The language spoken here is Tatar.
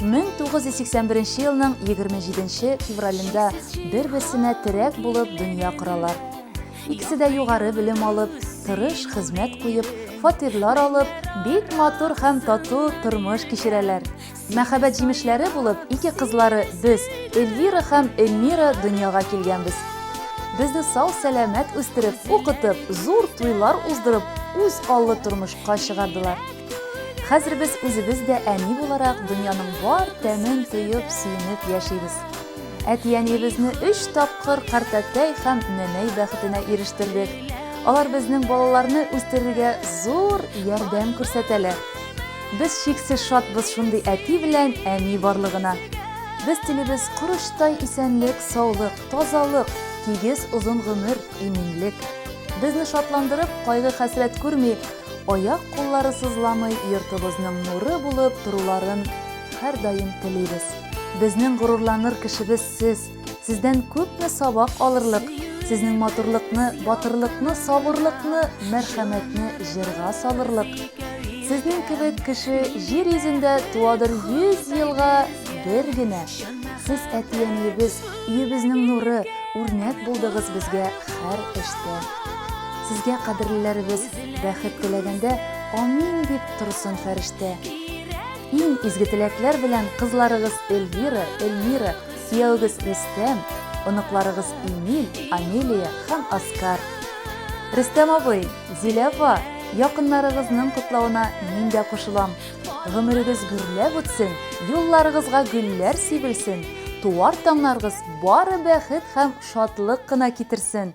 1981 елның 27 февралендә бер-берсенә терәк булып дөнья коралар. Икесе дә югары белем алып, тырыш хезмәт куеп, фатирлар алып, бик матур һәм тату тормыш кичерәләр. Мәхәббәт җимешләре булып ике кызлары без, Эльвира һәм Эльмира дөньяга килгәнбез. Безне сау-сәламәт үстереп, укытып, зур туйлар уздырып, үз аллы тормышка чыгардылар. Хәзер без үзебез дә әни буларак дөньяның бар тәмен тоеп, сөенеп яшибез. Әти-әниебезне өч тапкыр картәтәй һәм нәнәй бәхетенә ирештердек. Алар безнең балаларны үстерергә зур ярдәм күрсәтәләр. Без чиксез шатбыз шундый әти белән әни барлыгына. Без телибез корычтай исәнлек, саулык, тазалык, тигез озын гомер, иминлек. Безне шатландырып, кайгы-хәсрәт күрми, аяк-куллары сызламый йортыбызның нуры булып торуларын һәрдаим телибез. Безнең горурланыр кешебез сез. Сездән күпме сабак алырлык. Сезнең матурлыкны, батырлыкны, сабырлыкны, мәрхәмәтне җырга салырлык. Сезнең кебек кеше җир йөзендә туадыр 100 елга бер генә. Сез әти-әниебез, өебезнең нуры, үрнәк булдыгыз безгә һәр эштә. Сезгә кадерлеләребез бәхет теләгәндә Амин дип торсын фәрештә. Иң изге теләкләр белән кызларыгыз Эльвира, Эльмира, кияүгез Рөстәм, оныкларыгыз Эмиль, Амелия һәм Оскар. Рөстәм абый, Зилә апа, якыннарыгызның котлавына мин дә кушылам. Гомерегез гөрләп үтсен, юлларыгызга гөлләр сибелсен, туар таңнарыгыз бары бәхет һәм шатлык кына китерсен!